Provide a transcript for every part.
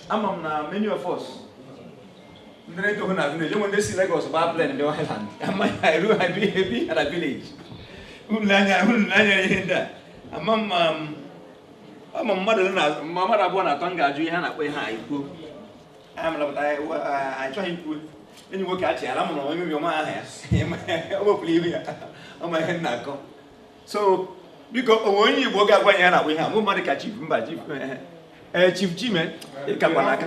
ama m na many of us ndị na-eto na village unu ndị si Lagos gbaa plane ndị Island amaghị ha eru ha bi- ebi ha na village unu anya unu anya ihe ndị a ama m ma m ama m mmadụ ole na ma mmadụ abụọ na atọ m ga-ajụ ihe a na-akpọ ihe a ikwu anya m lapụta anyị wa- a- anyị chọghị ikwu enyi nwoke achị ala mụrụ onye obi ọma aha ya o wepụrụ ihu ya ọ ma ihe m na-akọ so because o nwee onye m ga-agwa ya na ihe a mụ mmadụ ka chief mba chief eh, eh, eh, chief chime ịkakwa n'aka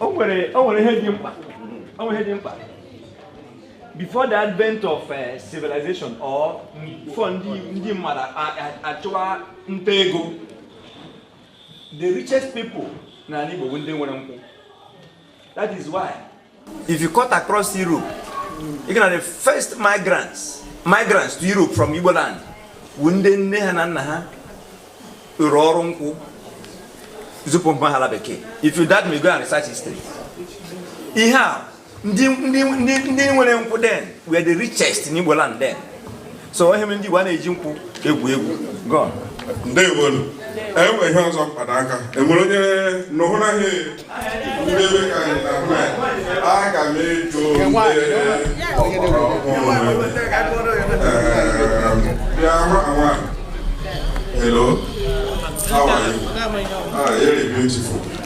o nwere ihe dị mkpa o nwere ihe dị mkpa before the advent of eh, civilization or before ndị mmadụ achụwa nta ego the richest people na Igbo bụ ndị nwere nkwụ That is why. If you cut across Europe, you know the first migrants, migrants to Europe from Igbo land, bụ ndị nne ha na nna ha rụrụ ọrụ nkwụ zipụ mpaghara bekee. If you doubt me go and research history. Ihe a ndị nwere nkwụ then were the richest in Igbo land then. so ihe mere ndị Igbo anaghị eji nkwụ egwu egwu gọn ndewonu e nwere ihe ọzọ mpanaka enwere onye nụhụ na ihe ndebe ka anyị na hụ anyị aga m ajụ ọgbara ọhụrụ bịa hụ awa hello how are you ah very beautiful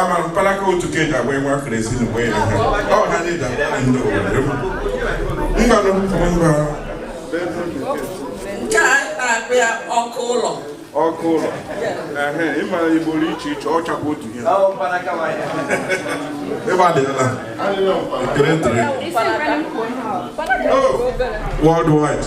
ama mpalaka otu ka eji agba enwe akara esi na wee ha ọ ha na-eji agba ndị obodo mgbanụ mba nke a na-akpọ ya ọkụ ụlọ ọkụ ụlọ ịma igbo dị iche iche ọ chakwa otu ihe ebe adịla ekele ntịrị worldwide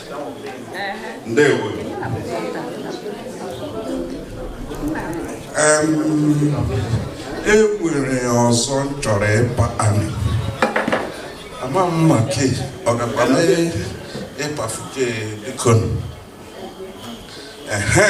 ndewo e nwere ọzọ m chọrọ ịpa anyị ama m ma ke ọ ga-ekwe m ịpafụte bikonu ehe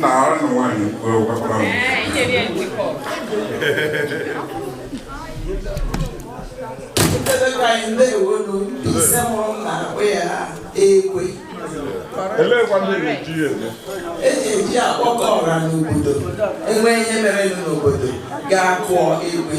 na anụ nwaanyị gwakwara m elekwa ndị na-akpọ ya ekwe eji eji akpọkọ ọra n'obodo e nwee ihe mere n'obodo ga-akụọ ekwe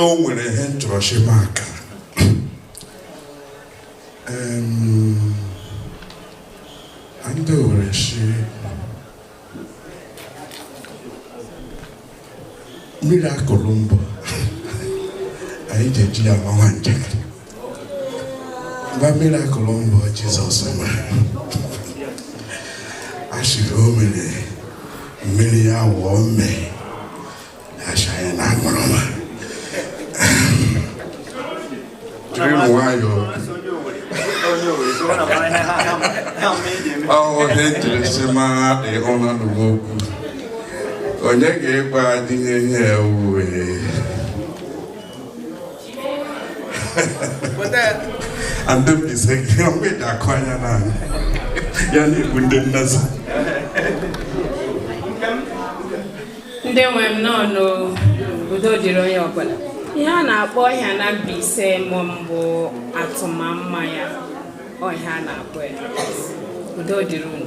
o nwere ihe nchọrọchi maka ndị were si mirakụl mbụ anyị ji eji ya amawa njakịrị na mirakụl mbụ Jizọs mere a sịrị o mere mmiri ya wụọ mmaị achaghị na aṅụrụma jiri nwayọọ ọhụrụ ihe jiri si mara dị ụlọ n'ugbo okwu onye ga-ekwe adịghị ihe ewuwe and don't be saying, I'm with that choir now. You're not with the nurse. ndị nwe m nọ n'udo dịrị onye ọbụla ihe a na-akpọ ihe a na Mbaise mụ mbụ atụmamma ya ọ ihe a na-akpọ ya udo dịrị unu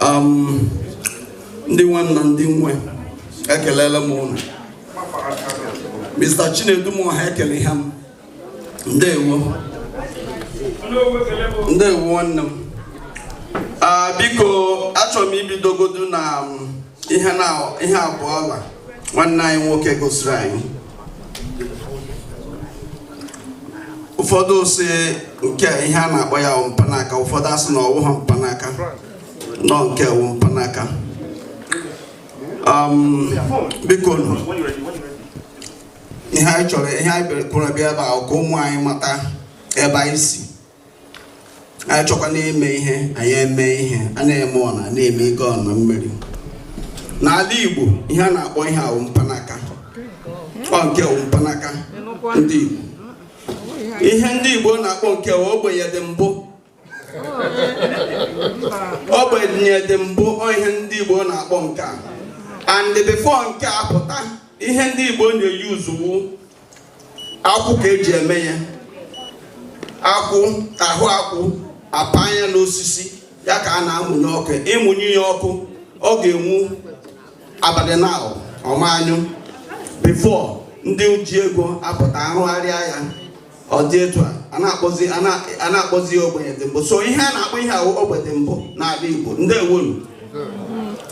um, ndị nwanna ndị nwe ekelela m ụnụ Mr. Chinedu m ha ekele ha m ndewo ndewo nwanne m ah, biko achọrọ m ibidogodu na um, ihe abụọ ọla nwanne anyị nwoke gosiri anyị ụfọdụ sị nke ihe a na-akpọ ya wụ mpanaka ụfọdụ asị na ọ wụghị mpanaka na ọ nke a wụ mpanaka um, biko ihe anyị chọrọ ihe anyị kwuru bịa ebe a ka ụmụ anyị mata ebe anyị si anyị chọkwana ime ihe anyị eme ihe a na-eme ọna na-eme ike ọna mmiri n'ala Igbo ihe a na-akpọ ihe a wụ mpanaka ọ nke a wụ mpanaka ndị Igbo ihe ndị Igbo na-akpọ nke a wụ ogbenye dị mbụ ogbenye dị mbụ ọ ihe ndị Igbo na-akpọ nke a and before nke a pụta ihe ndị Igbo na-use wụ akwụ ka e ji eme ya akwụ ahụ akwụ apa anya n'osisi ya ka a na-amụnye ọkụ ịmụnye ya ọkụ ọ ga-enwu abalị na ọ ma anyụ before ndị ji ego apụta arụgharịa ya ọ dị etu a a na-akpọzi ya ogbenye dị mbụ so ihe a na-akpọ ihe ahụ ogbe dị mbụ n'ala Igbo ndewonu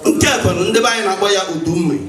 nke a kwanụ ndị be anyị na-akpọ ya udu mmiri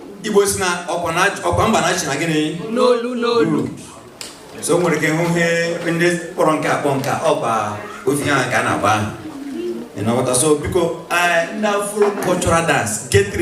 Igbo sị na ọkwa mba na-achị na gịnị n'olu n'olu so i nwere ike hụ ihe ndị kpọrọ nke a akpọ nke a ọkwa ofu ihe ahụ ka a na-akpọ aha so biko eh, ndị afro cultural dance get ready